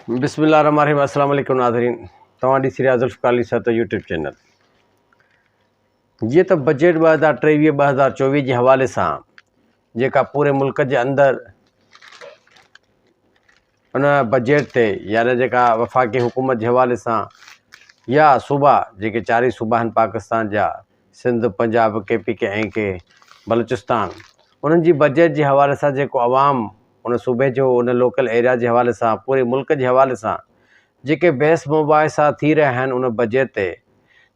بسم الله الرحمن الرحيم السلام عليڪم ناظرين توهان ڏسي رهيا ذوالفقار علي صاحب يوٽيوب چينل جيئن ته بجيٽ ٻه هزار ٽيويهه ٻه هزار چوويهه جي حوالي سان جيڪا پوري ملڪ جي اندر ان بجيٽ تي يعني جيڪا وفاقي حڪومت جي حوالي سان يا صوبا جيڪي چارئي صوبا آهن پاڪستان جا Sindh, Punjab, K P K ۽ ڪي بلوچستان انهن جي بجيٽ جي حوالي سان جيڪو عوام ان صوبي جو ان لوڪل ايريا جي حوالي سان پوري ملڪ جي حوالي سان جيڪي بحث مباحثا ٿي رهيا آهن ان بجيٽ تي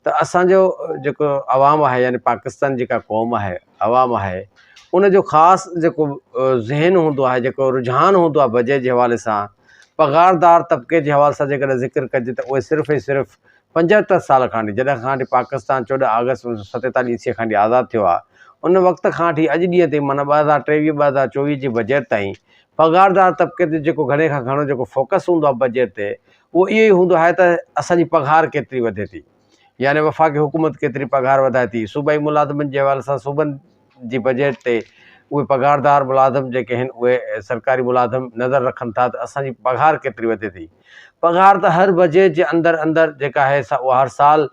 ته اسان جو جيڪو عوام آهي يعني پاڪستان جيڪا قوم آهي عوام آهي ان جو خاص جيڪو ذهن هوندو آهي جيڪو رجحان هوندو آهي بجيٽ جي حوالي سان پگهاردار طبقي جي حوالي سان جيڪڏهن ذڪر ڪجي ته اهي صرف ۽ صرف پنجهتر سال کانئٺي جڏهن کانئٺي پاڪستان چوڏهن آگسٽ اڻويهه سؤ ستيتاليهه عيسويء کانئٺي آزاد ٿيو آهي ان وقت کانئٺي اڄ ڏينهن تائين معنيٰ ٻه هزار ٽيويهه ٻه هزار چوويهه جي بجيٽ تائين پگهاردار طبقي تي جيڪو گهڻي کان گهڻو جيڪو فوڪس هوندو آهي بجيٽ تي اهو اهو ئي هوندو آهي ته اسان جي پگهار ڪيتري وڌي ٿي يعني وفاقي حڪومت ڪيتري پگهار وڌائي ٿي صوبائي ملازمن جي حوالي سان صوبن جي بجيٽ تي اهي پگهاردار ملازم جيڪي هن اهي سرڪاري ملازم نظر رکن ٿا ته اسان جي پگهار ڪيتري وڌي ٿي پگهار ته هر بجيٽ جي اندر اندر جيڪا آهي سا اها هر سال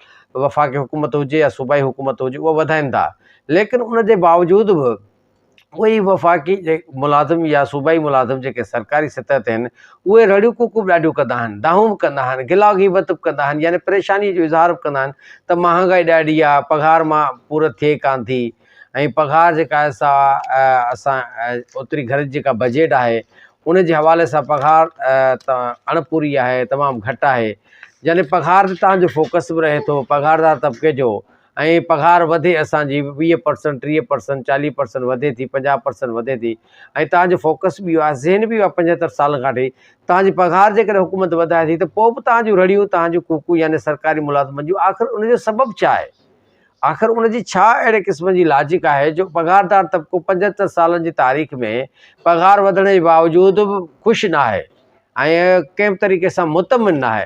وفاقي حڪومت هجي يا صوبائي حڪومت هجي اهو وڌائين ٿا ليڪن ان جي باوجود به اهي وفاقي ملازم يا صوبائي ملازم جيڪي سرڪاري سطح تي آهن اهي رڙيون ڪوڪون به ڏاڍيون ڪندا آهن، دانهون به ڪندا آهن، گلا غيبت به ڪندا آهن يعني پريشانيء جو اظهار به ڪندا آهن ته مهانگائي ڏاڍي آ، پگهار مان پورت ٿئي ڪانه ٿي ۽ پگهار جيڪا آهي سا اسان اوتري گهر جي جيڪا بجيٽ آهي ان جي حوالي سان پگهار اڻ پوري آهي تمام گهٽ آهي يعني پگهار تي تهان جو فوڪس به رهي ٿو پگهار دار طبقي جو ۽ پگهار وڌي اسان جي ويهه پرسنٽ ٽيهه پرسنٽ چاليهه پرسنٽ وڌي ٿي پنجاهه پرسنٽ وڌي ٿي ۽ توهان جو فوڪس به اهو آهي ذهن به اهو آهي پنجهتر سالن کان وٺي توهان جي پگهار جيڪڏهن حڪومت وڌائي ٿي ته پوء به توهان جون رڙيون توهان جون ڪوڪون يعني سرڪاري ملازمن جون آخر ان جو سبب ڇا آهي آخر ان جي ڇا اهڙي قسم جي لاجڪ آهي جو پگهاردار طبقو پنجهتر سالن جي تاريخ ۾ پگهار وڌڻ جي باوجود به خوش ناهي ۽ ڪنهن به طريقي سان مطمئن ناهي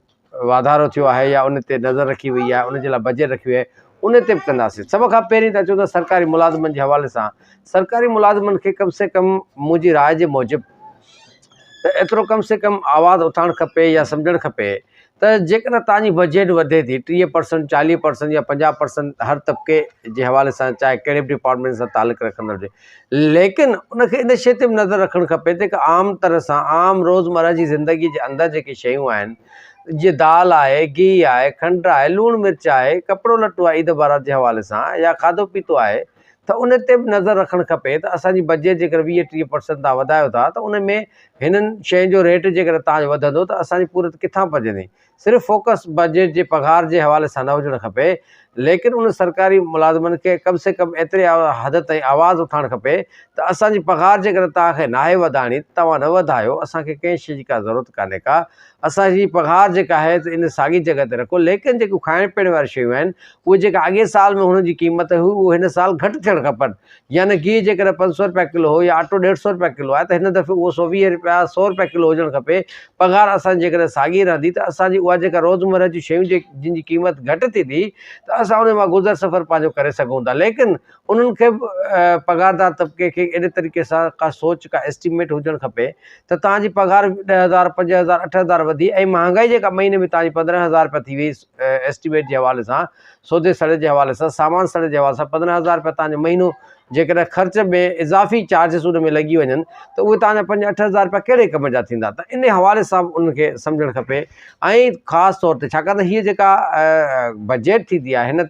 واڌارو ٿيو آهي يا ان تي نظر رکي وئي آهي ان جي لاء بجيٽ رکي وئي آهي ان تي به ڪنداسين سڀ کان پهرين ته اچو ته سرڪاري ملازمن جي حوالي سان سرڪاري ملازمن کي ڪم سي ڪم منهنجي راء جي موجب ته ايترو ڪم سي ڪم آواز اٿارڻ کپي يا سمجهڻ کپي ته جيڪڏهن تان جي بجيٽ وڌي ٿي ٽيهه پرسنٽ چاليهه پرسنٽ يا پنجاهه پرسنٽ هر طبقي جي حوالي سان چاهي ڪهڙي به ڊپارٽمينٽ سان تعلق رکندڙ هجي ليڪن ان کي ان شيء تي به نظر رکڻ کپي ته هڪ عام طرح سان عام روزمره جي زندگي جي اندر جيڪي شيون آهن جيئن دال آهي، گيهه آهي، کنڊ آهي، لوڻ مرچ آهي، ڪپڙو لٽو آهي عيد بارات جي حوالي سان يا کاڌو پيتو آهي ته ان تي به نظر رکڻ کپي ته اسان جي بجيٽ جيڪر ويهه ٽيهه پرسنٽ تان وڌايو ٿا ته ان ۾ هنن شين جو ريٽ جيڪر تان وڌندو ته اسان جي پورت ڪٿان پجندي صرف فوڪس بجيٽ جي پگهار جي حوالي سان نه هجڻ کپي ليڪن ان سرڪاري ملازمن کي ڪم سي ڪم ايتري حد تائين آواز اٿائڻ کپي ته اسان جي پگهار جيڪڏهن توهان کي ناهي وڌائڻي ته توهان نه وڌايو اسان کي ڪنهن شي جي ڪا ضرورت ڪانهي ڪا اسان جي پگهار جيڪا آهي ته ان ساڳي جڳهه تي رکو ليڪن جيڪيون کائڻ پيئڻ واريون شيون آهن اهي جيڪا اڳئين سال ۾ هن جي قيمت هئي اهي هن سال گهٽ ٿيڻ کپن يعني گيهه جيڪڏهن پنج سؤ رپيا ڪلو هو يا آٽو ڏيڍ سؤ رپيا ڪلو آهي ته هن دفعي اهو سؤ ويهه رپيا سؤ رپيا ڪلو هجڻ کپي. پگهار اسان جي جيڪڏهن ساڳي رهندي ته اسان جي اها جيڪا روزمره جون شيون جن جي قيمت گهٽ ٿيندي ته اسان انهي مان گذر سفر پنهنجو ڪري سگهون ٿا ليڪن انهن کي به پگهاردار طبقي کي اهڙي طريقي سان ڪا سوچ ڪا اسٽيميٽ هجڻ کپي ته توهان جي پگهار ڏهه هزار پنج هزار اٺ هزار وڌي ۽ مهانگائي جيڪا مهيني ۾ توهان جي پندرهن هزار رپيا ٿي وئي ايسٽيميٽ جي حوالي سان سودي سڙي جي حوالي سان سامان سڙي جي حوالي سان پندرهن هزار روپيا توهان جو مهينو جيڪڏهن خرچ ۾ اضافي چارجز ان ۾ لڳي وڃن ته اهي توهان جا پنج اٺ هزار روپيا ڪهڙي ڪم جا ٿيندا ته ان حوالي سان به انهن کي سمجهڻ کپي ۽ خاص طور تي ڇاڪاڻ ته هيء جيڪا بجيٽ ٿيندي آهي هن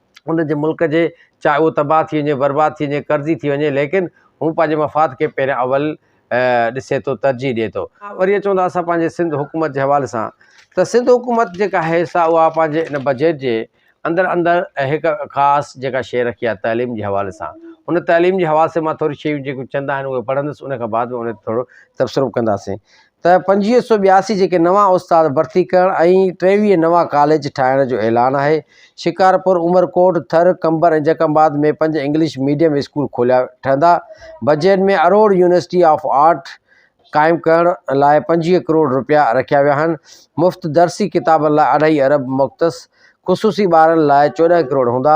ان جي ملڪ جي چاهي اهو تباهه ٿي وڃي برباد ٿي وڃي قرضي ٿي وڃي ليڪن هو پنهنجي مفاد کي پهريان اول ڏسي ٿو ترجيح ڏي ٿو. وري اچون ٿا اسان پنهنجي سنڌ حڪومت جي حوالي سان ته سنڌ حڪومت جيڪا آهي سا اها پنهنجي ان بجيٽ جي اندر اندر هڪ خاص جيڪا شيء رکي آهي تعليم جي حوالي سان ان تعليم جي حوالي سان مان ٿوري شيون جيڪو چند آهن اهي پڙهندس ان کان بعد ۾ ان تي ٿورو تبصرو ڪنداسين ته پنجويهه سؤ ٻياسي جيڪي نوان استاد ڀرتي ڪرڻ ۽ ٽيويهه نوان ڪاليج ٺاهڻ جو اعلان آهي شڪارپور عمرڪوٽ ٿر قمبر ۽ جڪ آباد ۾ پنج انگلش ميڊيم اسڪول کوليا ٺهندا budget ۾ Aror university of art قائم ڪرڻ لاء پنجويهه ڪروڙ رپيا رکيا ويا آهن مفت درسي ڪتابن لاء اڍائي ارب مختص خصوصي ٻارن لاء چوڏهن ڪروڙ هوندا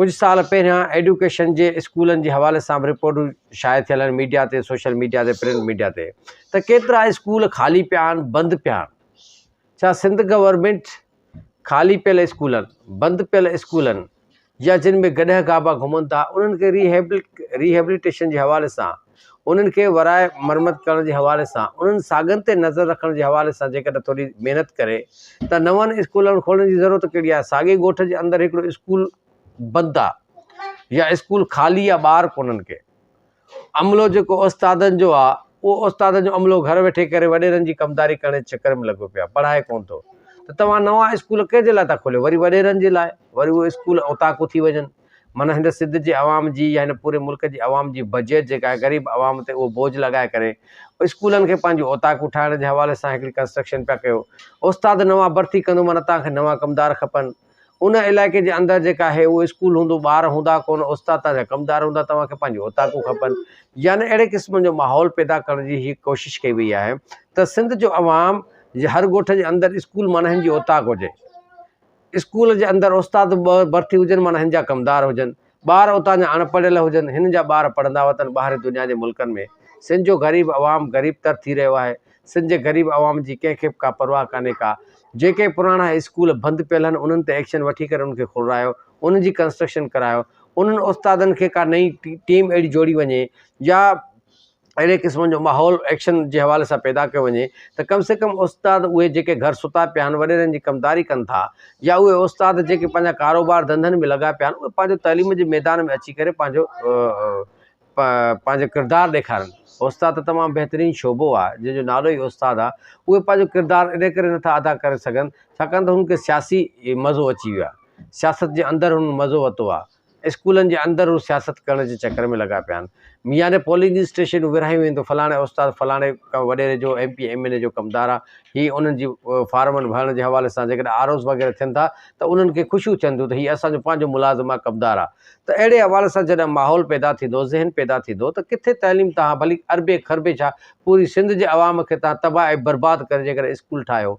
ڪجهه سال پهريان ايڊيوڪيشن جي اسڪولن جي حوالي سان به رپورٽون شايع ٿيل آهن ميڊيا تي سوشل ميڊيا تي پرنٽ ميڊيا تي ته ڪيترا اسڪول خالي پيا آهن بند پيا آهن ڇا سنڌ گورنمينٽ خالي پيل اسڪولن بند پيل اسڪولن يا جن ۾ گڏهه گابا گهمن ٿا انهن کي ريهيبل ريهيبليٽيشن جي حوالي سان انهن کي ورائي مرمت ڪرڻ جي حوالي سان انهن ساڳن تي نظر رکڻ جي حوالي سان جيڪڏهن ٿوري محنت ڪري ته نون اسڪولن کولڻ جي ضرورت ڪهڙي آهي ساڳي ڳوٺ جي اندر هڪڙو اسڪول بند آهي يا اسڪول خالي آهي ٻار ڪونهن ڪي عملو جيڪو استادن جو آهي اهو استادن جو عملو گهر ويٺي ڪري وڏيرن جي ڪمداري ڪرڻ جي چڪر ۾ لڳو پيو آهي پڙهائي ڪونه ٿو ته توهان نوان اسڪول ڪنهن جي لاء ٿا کوليو وري وڏيرن جي لاء وري اهو اسڪول اوطاقون ٿي وڃن معنيٰ هن سنڌ جي عوام جي يا هن پوري ملڪ جي عوام جي بجيٽ جيڪا آهي غريب عوام تي اهو بوجھ لڳائي ڪري اسڪولن کي پنهنجون اوطاقون ٺاهڻ جي حوالي سان هڪڙي ڪنسٽرڪشن پيا ڪيو استاد نوان ڀرتي ڪندو معنيٰ توهان کي نوان ڪمدار کپن ان علائقي جي اندر جيڪا آهي اهو اسڪول هوندو ٻار هوندا ڪونه استاد توهان جا ڪمدار هوندا توهان کي پنهنجون اوطاقون کپن يعني اهڙي قسم جو ماحول پيدا ڪرڻ جي هي ڪوشش ڪئي وئي آهي ته سنڌ جو عوام جي هر ڳوٺ جي اندر اسڪول معنيٰ هن جي اوطاق هجي اسڪول جي اندر استاد به ٻه ڀرتي هجن معنيٰ هن جا ڪمدار هجن. ٻار اتان جا اڻ پڙهيل هجن. هنن جا ٻار پڙهندا وتن ٻاهرين دنيا جي ملڪن ۾. سنڌ جو غريب عوام غريب تر ٿي رهيو آهي. سنڌ جي غريب عوام جي ڪنهن کي به ڪا پرواهه ڪانهي ڪا. جيڪي پراڻا اسڪول بند پيل هن انهن تي ايڪشن وٺي ڪري انهن کي کلرايو. انهن جي ڪنسٽرڪشن ڪرايو. انهن استادن کي ڪا نئين ٽيم اهڙي جوڙي وڃي يا اهڙي قسم جو ماحول ايڪشن جي حوالي سان پيدا ڪيو وڃي ته ڪم سي ڪم استاد اهي جيڪي گهر ستا پيا آهن وڏيرن جي ڪمداري ڪن ٿا يا اهي استاد جيڪي پنهنجا ڪاروبار ڌنڌن ۾ لڳا پيا آهن اهي پنهنجو تعليم جي ميدان ۾ اچي ڪري پنهنجو پنهنجو ڪردار ڏيکارن استاد ته تمام بهترين شعبو آهي جنهن جو نالو ئي استاد آهي اهي پنهنجو ڪردار ان ڪري نٿا ادا ڪري سگهن ڇاڪاڻ ته هن کي سياسي مزو اچي ويو آهي سياست جي اندر هن مزو ورتو آهي اسڪولن جي اندر هو سياست ڪرڻ جي چڪر ۾ لڳا پيا آهن. ميان ۾ پولنگ اسٽيشنون ورهايون ويندو، فلاڻي استاد فلاڻي ڪا وڏيري جو M P M N A جو ڪمدار آ، هي انهن جي فارمن ڀرڻ جي حوالي سان جيڪڏهن آر اوز وغيره ٿين ٿا ته انهن کي خوشيون ٿين ٿيون ته هي اسان جو پنهنجو ملازم آ ڪمدار آ ته اهڙي حوالي سان جڏهن ماحول پيدا ٿيندو ذهن پيدا ٿيندو ته ڪٿي تعليم تهان ڀلي اربين کربين ڇا پوري سنڌ جي عوام کي تهان تباهه ۽ برباد ڪري جيڪڏهن اسڪول ٺاهيو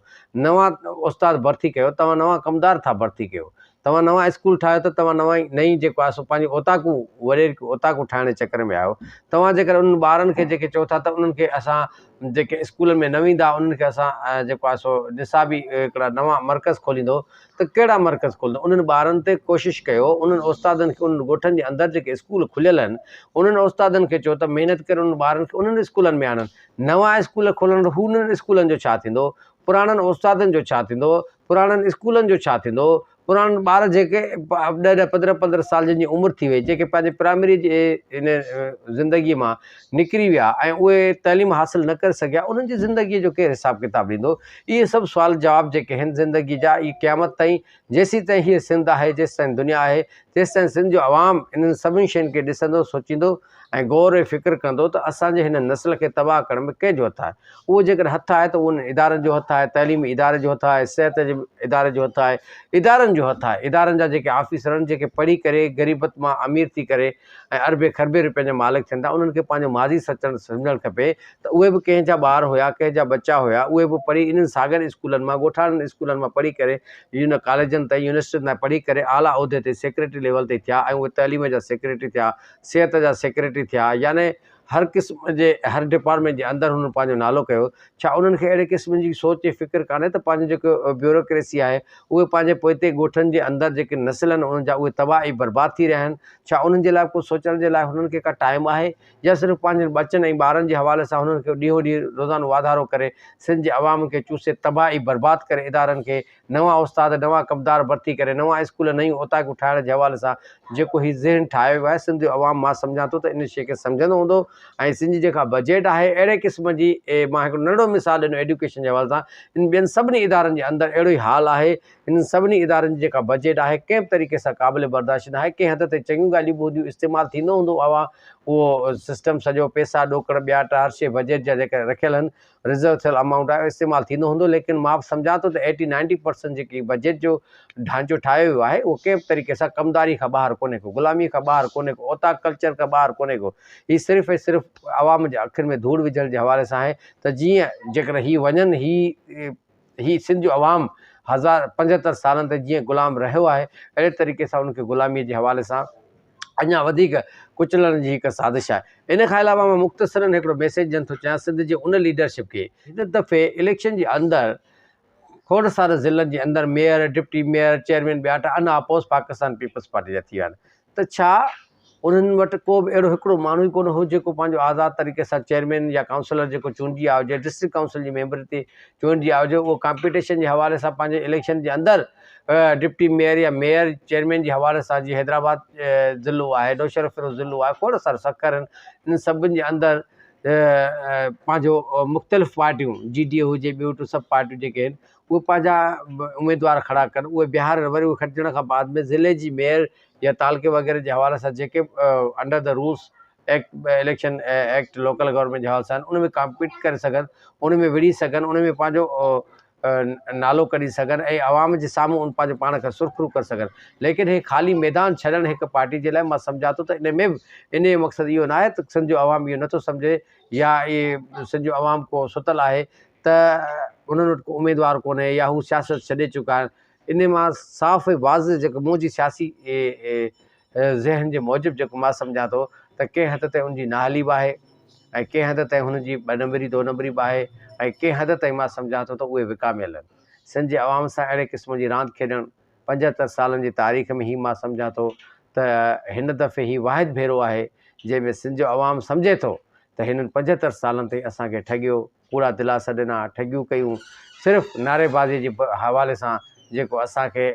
نوان استاد ڀرتي ڪيو توهان نوان ڪمدار ٿا ڀرتي ڪيو توهان نوان اسڪول ٺاهيو ته توهان نوان نئين جيڪو آهي سو پنهنجي اوطاقون وريرڪ اوطاقون ٺاهڻ جي چڪر ۾ آهيو توهان جيڪڏهن انهن ٻارن کي جيڪي چئو ٿا ته انهن کي اسان جيڪي اسڪولن ۾ نه ويندا انهن کي اسان جيڪو آهي سو نصابي هڪڙا نوان مرڪز کوليندو ته ڪهڙا مرڪز کولندو انهن ٻارن تي ڪوشش ڪيو انهن استادن کي انهن ڳوٺن جي اندر جيڪي اسڪول کليل آهن انهن استادن کي چئو ته محنت ڪري انهن ٻارن کي انهن اسڪولن ۾ آڻن نوان اسڪول کولڻ هو انهن اسڪولن جو ڇا ٿيندو پراڻن استادن جو ڇا ٿيندو پراڻن اسڪولن جو ڇا ٿيندو؟ پراڻن ٻار جيڪي ڏهه ڏهه پندرهن پندرهن سال جن جي عمر ٿي وئي جيڪي پنهنجي پرائمري جي ان زندگي مان نڪري ويا ۽ اهي تعليم حاصل نه ڪري سگهيا انهن جي زندگي جو ڪير حساب ڪتاب ڏيندو؟ اهي سڀ سوال جواب جيڪي هن زندگي جا اهي قيامت تائين جيسين تائين هيء سنڌ آهي جيسين تائين دنيا آهي تيسين تائين سنڌ جو عوام انهن سڀني شين کي ڏسندو سوچيندو ۽ غور ۽ فڪر ڪندو ته اسان جي هن نسل کي تباهه ڪرڻ ۾ ڪنهن جو هٿ آهي؟ اهو جيڪڏهن هٿ آهي ته اهو انهن ادارن جو هٿ آهي، تعليمي اداري جو هٿ آهي، صحت جي اداري جو هٿ آهي، ادارن جو هٿ آهي، ادارن جا جيڪي آفيسر آهن جيڪي پڙهي ڪري غريبت مان امير ٿي ڪري ۽ اربين کربين روپين جا مالڪ ٿين ٿا انهن کي پنهنجو ماضي سچڻ سمجهڻ کپي ته اهي به ڪنهن جا ٻار هيا ڪنهن جا ٻچا هيا اهي به پڙهي انهن ساڳين اسڪولن مان ڳوٺاڻن اسڪولن مان پڙهي ڪري يونين ڪاليجن تائين يونيورسٽين تائين پڙهي ڪري اعليٰ عهدي تي سيڪريٽري ليول تي ٿيا ۽ اهي تعليم جا سيڪريٽري ٿيا صحت جا سيڪريٽري ٿيا يعني هر قسم جي هر ڊپارٽمينٽ جي اندر هنن پنهنجو نالو ڪيو ڇا انهن کي اهڙي قسم جي سوچ ۽ فڪر ڪانهي ته پنهنجو جيڪو بيوروڪريسي آهي اهي پنهنجي پوئتي ڳوٺن جي اندر جيڪي نسل آهن انهن جا اهي تباهه ۽ برباد ٿي رهيا آهن ڇا انهن جي لاء ڪجهه سوچڻ جي لاء هنن کي ڪا ٽائيم آهي يا صرف پنهنجن ٻچن ۽ ٻارن جي حوالي سان هنن کي ڏينهون ڏينهن روزانو واڌارو ڪري سنڌ جي عوام کي چوسي تباهه ۽ برباد ڪري ادارن کي نوان استاد، نوان ڪبدار ڀرتي ڪري، نوان اسڪول، نيون اوطاقون ٺاهڻ جي حوالي سان جيڪو هي ذهن ٺاهيو ويو آهي، سنڌ جو عوام مان سمجهان ٿو ته ان شيء کي سمجهندو هوندو ۽ سنڌ جي جيڪا بجيٽ آهي اهڙي قسم جي مان هڪڙو ننڍڙو مثال ڏنو ايڊيوڪيشن جي حوالي سان ان ٻين سڀني ادارن جي اندر اهڙو ئي حال آهي انهن سڀني ادارن جي جيڪا بجيٽ آهي ڪنهن به طريقي سان قابل برداشت ناهي ڪنهن حد تائين چڱيون ڳالهيون به هونديون استعمال ٿيندو هوندو اها اهو سسٽم سڄو پيسا ڏوڪڙ ٻياٽ هر شيء بجيٽ جا جيڪا رکيل آهن رزرو ٿيل امائونٽ آهي اهو استعمال ٿيندو هوندو ليڪن مان به سمجهان ٿو ته ايٽي نائنٽي پرسنٽ جيڪي بجيٽ جو ڍانچو ٺاهيو ويو آهي اهو ڪنهن به طريقي سان ڪمداري کان ٻاهر ڪونهي ڪو غلامي کان ٻاهر ڪونهي ڪو اوطاق ڪلچر کان ٻاهر ڪونهي ڪو هي صرف ۽ صرف عوام جي اکين ۾ ڌوڙ وجهڻ جي حوالي سان آهي ته جيئن جيڪڏهن هي وڃن هي هي سنڌ جو عوام هزار پنجهتر سالن تائين جيئن غلام رهيو آهي اهڙي طريقي سان ان کي غلاميء جي حوالي سان اڃا وڌيڪ ڪچلڻ جي هڪ سازش آهي ان کان علاوه مان مختصرن هڪڙو ميسيج ڏين ٿو چاهيان سنڌ جي ان ليڊرشپ کي هن دفعي اليڪشن جي اندر کوڙ سارن ضلعن جي اندر ميئر ڊپٽي ميئر چيئرمين ٻياٽا انا اپوز پاڪستان پيپلز پارٽي جا ٿي ويا آهن ته ڇا انهن وٽ ڪو به اهڙو هڪڙو ماڻهو ئي ڪونه هو جيڪو پنهنجو آزاد طريقي سان چيئرمين يا ڪائونسلر جيڪو چونڊجي آيو جنهن ڊسٽرڪٽ ڪائونسل جي ميمبر تي چونڊجي آيو جو اهو ڪامپيٽيشن جي حوالي سان پنهنجي اليڪشن جي اندر ڊپٽي ميئر يا ميئر چيئرمين جي حوالي سان جي حيدرآباد ضلعو آهي نوشهرو فيروز ضلعو آهي کوڙ سارو سکر آهن ان سڀن جي اندر پنهنجو مختلف پارٽيون جي ڊي هجي ٻيون ٽيون سڀ پارٽيون جيڪي آهن اهي پنهنجا اميدوار کڙا ڪن اهي بيهار وري اهي کٽجڻ کان بعد ۾ ضلعي جي ميئر يا تعلقي وغيره جي حوالي سان جيڪي under the rules act election act local government جي حوالي سان ان ۾ ڪامپيٽ ڪري سگهن ان ۾ وڙهي سگهن ان ۾ پنهنجو نالو ڪڍي سگهن ۽ عوام جي سامهون ان پنهنجو پاڻ کي سرخرو ڪري سگهن ليڪن هي خالي ميدان ڇڏڻ هڪ پارٽي جي لاء مان سمجهان ٿو ته ان ۾ به ان جو مقصد اهو ناهي ته سنڌ جو عوام اهو نٿو سمجهي يا اهي سنڌ جو عوام ڪو ستل آهي ته انهن وٽ ڪو اميدوار ڪونهي يا هو سياست ڇڏي چڪا آهن انهي مان صاف ۽ واضح جيڪو منهنجي سياسي ذهن جي موجب جيڪو مان سمجهان ٿو ته ڪنهن حد تائين ان جي نااهلي به آهي ۽ ڪنهن حد تائين هن جي ٻه نمبري دو نمبري به آهي ۽ ڪنهن حد تائين مان سمجهان ٿو ته اهي وڪاميل آهن سنڌ جي عوام سان اهڙي قسم جي راند کيڏڻ پنجهتر سالن جي تاريخ ۾ هي مان سمجهان ٿو ته هن دفعي هي واحد ڀيرو آهي جنهن ۾ سنڌ جو عوام سمجهي ٿو ته هنن پنجهتر سالن تائين اسان کي ٺڳيو ڪوڙا دلاسا ڏنا، ٺڳيون ڪيون، صرف نعريبازيء جي حوالي سان جيڪو اسان کي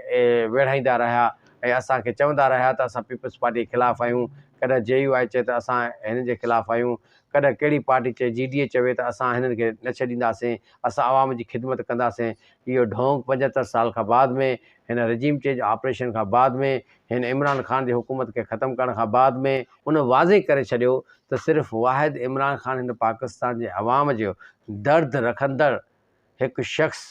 ويڙهائيندا رهيا ۽ اسان کي چوندا رهيا ته اسان پيپلز پارٽيء خلاف آهيون، ڪڏهن جي يو آء چئي ته اسان هنن جي خلاف آهيون، ڪڏهن ڪهڙي پارٽي چئي، جي ڊي اي چوي ته اسان هنن کي نه ڇڏينداسين، اسان عوام جي خدمت ڪنداسين. اهو ڍونگ پنجهتر سال کان بعد ۾ هن رجيم چينج آپريشن کان بعد ۾ هن عمران خان جي حڪومت کي ختم ڪرڻ کان بعد ۾ ان واضح ڪري ڇڏيو ته صرف واحد عمران خان هن پاڪستان جي عوام جو درد رکندڙ هڪ شخص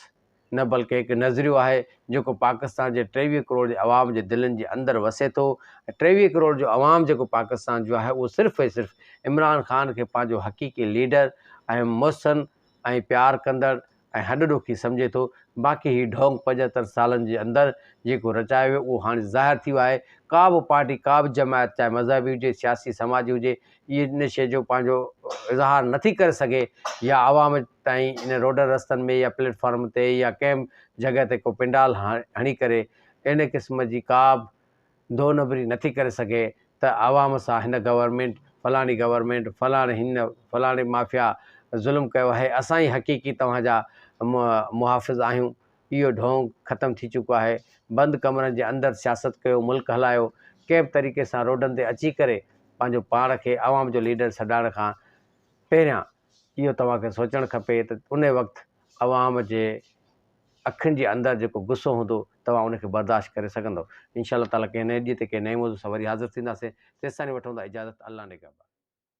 نه بلڪه هڪ نظريو آهي جيڪو پاڪستان جي ٽيويهه ڪروڙ جي عوام جي دلين جي اندر وسي ٿو ۽ ٽيويهه ڪروڙ جو عوام جيڪو پاڪستان جو آهي اهو صرف ۽ صرف عمران خان کي پنهنجو حقيقي ليڊر ۽ محسن ۽ پيار ڪندڙ ۽ هڏ ڏوکي سمجهي ٿو، باقي هي ڍونگ پنجهتر سالن جي اندر جيڪو رچايو ويو اهو هاڻي ظاهر ٿي ويو آهي، ڪا به پارٽي ڪا به جماعت چاهي مذهبي هجي سياسي سماجي هجي اهي ان شيء جو پنهنجو اظهار نٿي ڪري سگهي يا عوام تائين ان روڊن رستن ۾ يا پليٽ فارم تي يا ڪنهن به جڳهه تي ڪو پنڊال هڻي ڪري ان قسم جي ڪا به دو نمبري نٿي ڪري سگهي ته عوام سان هن گورنمينٽ، فلاڻي گورنمينٽ، فلاڻي هن، فلاڻي مافيا ظلم ڪيو آهي، اسان ئي حقيقي توهان جا محافظ آهيون، اهو ڍونگ ختم ٿي چڪو آهي، بند ڪمرن جي اندر سياست ڪيو، ملڪ هلايو، ڪنهن به طريقي سان روڊن تي اچي ڪري پنهنجو پاڻ کي عوام جو ليڊر سڏائڻ کان پهريان اهو توهان کي سوچڻ کپي ته ان وقت عوام جي اکين جي اندر جيڪو غصو هوندو توهان ان کي برداشت ڪري سگهندؤ انشاء الله تعالي ڪنهن نئين ڏينهن تي ڪنهن نئين موضوع سان وري حاضر ٿينداسين تيستاڻي وٺون ٿا اجازت الله نگهبان.